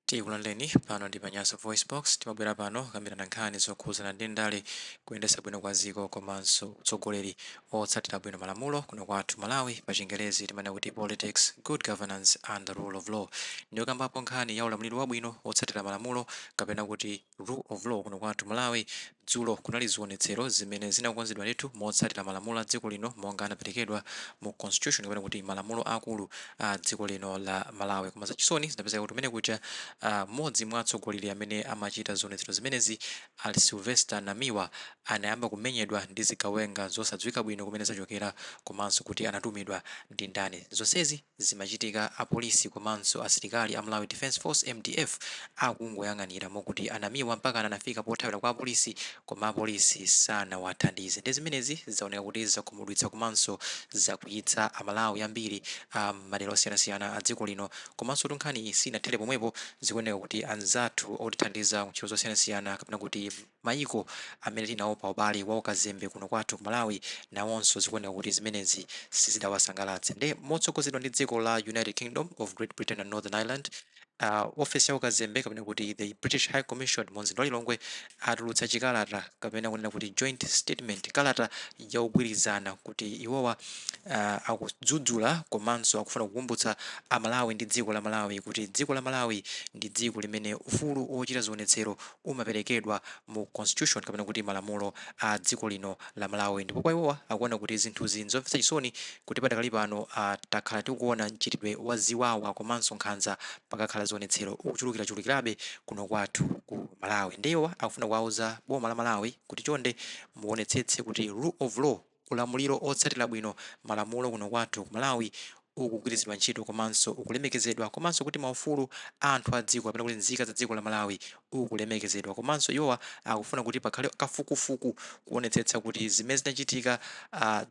Tikulandireni pano ndi pa Nyasa VoiceBox, timabwera pano kukambirana nkhani zokhuzana ndi ndale, kuyendetsa bwino kwa ziko komanso utsogoleri otsatira bwino malamulo kuno kwathu Malawi pa chingerezi timanena kuti politics, good governance and the rule of law. Ndiye pokambapo nkhani ya ulamuliro wabwino otsatira malamulo kapena kuti. Rule of law kuno kwathu Malawi dzulo kunali zionetsero zimene zinakonzedwa ndithu motsatira malamulo a dziko lino monga anaperekedwa mu constitution kapena kuti malamulo akulu a dziko lino la Malawi koma zachisoni zinapezeka kuti kumene kuja ah, mmodzi mwa atsogoleri amene amachita zionetsero zimenezi a Sylvester Namiwa anayamba kumenyedwa ndi zigawenga zosadziwika bwino kumene zachokera komanso kuti anatumidwa ndi ndani zonsezi Zimachitika apolisi komanso asilikali a Malawi Defence Force, mdf, akungoyang'anira mokuti a Namiwa mpaka anafika pothawira kwa apolisi koma apolisi sanawathandize nde zimenezi zaoneka kuti zakhumudwitsa komanso zakwiyitsa a Malawi ambiri a m'madera osiyanasiyana a dziko lino. Komansotu nkhaniyi sinathere pomwepo, zikuoneka kuti anzathu otithandiza ku ntchito zosiyanasiyana kapena kuti. Mayiko amene tinawo pa ubale wa ukazembe kuno kwathu ku Malawi nawonso zikuoneka kuti zimenezi sizidawasangalatse nde motsogozedwa ndi dziko la United Kingdom of Great Britain and Northern Ireland, a ofesi ya ukazembe kapena kuti the British High Commission mu mzinda wa Lilongwe atulutsa chikalata kapena kunena kuti joint statement, kalata yaugwirizano kuti iwowa akudzudzula komanso akufuna kukumbutsa a Malawi ndi dziko la Malawi kuti dziko la Malawi ndi dziko limene ufulu wochita zionetsero umaperekedwa mu constitution kapena kuti malamulo a dziko lino la Malawi ndipo kwa iwowa akuona kuti zinthuzi nzomvetsa chisoni kuti padakali pano takhala tikuona mchitidwe wa ziwawa komanso nkhanza pakakhala zionetsero ukuchulukirachulukirabe kuno kwathu ku Malawi nde iwowa akufuna kuwauza boma la Malawi kuti chonde muonetsetse kuti rule of law Ulamuliro otsatira bwino malamulo kuno kwathu ku Malawi ukugwiritsidwa ntchito komanso ukulemekezedwa komanso kuti maufulu a anthu a dziko kapena kuti nzika za dziko la Malawi ukulemekezedwa komanso iwowa akufuna kuti pakhale kafukufuku kuonetsetsa kuti zimene zinachitika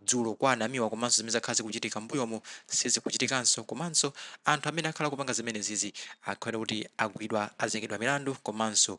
dzulo kwa a Namiwa komanso zimene zakhala zikuchitika m'mbuyomu sizikuchitikanso komanso anthu amene akhala akupanga zimenezizi akhale kuti agwidwa azengedwa milandu komanso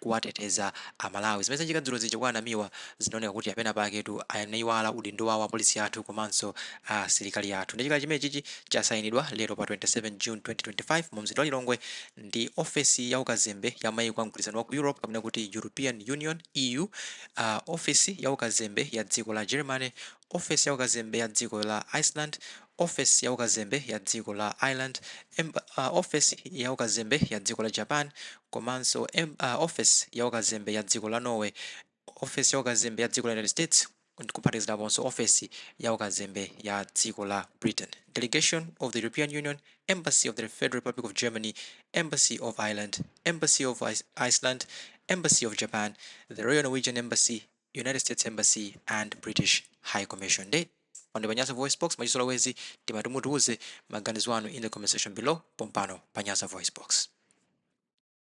kuwateteza a Malawi. Zimene zachika dzulo zija kwa a Namiwa zinaoneka kuti apena paketu anaiwala udindo wawo apolisi athu komanso asilikali athu. Nde chikalata chimenechichi chasainidwa lero pa 27 June 2025 mu mzinda wa Lilongwe ndi ofesi ya ukazembe ya maiko a mgwirizano wa ku Europe kapena kuti European Union, EU, a ofesi ya ukazembe ya dziko la Germany, Ofesi ya Ukazembe ya Dziko la Iceland Ofesi ya Ukazembe ya Dziko la Ireland Ofesi ya Ukazembe ya Dziko la Japan komanso Ofesi ya Ukazembe ya Dziko la Norway Ofesi ya Ukazembe ya Dziko la United States kuphatikiziraponso Ofesi ya Ukazembe ya Dziko la Britain Delegation of the European Union Embassy of the Federal Republic of Germany Embassy of Ireland Embassy of Iceland Embassy of Japan The Royal Norwegian Embassy United States Embassy and British High Commission nde pano pa nyasa voicebox mwachizolowezi timati mutiuze maganizo anu in the comment section below pompano pa nyasa voicebox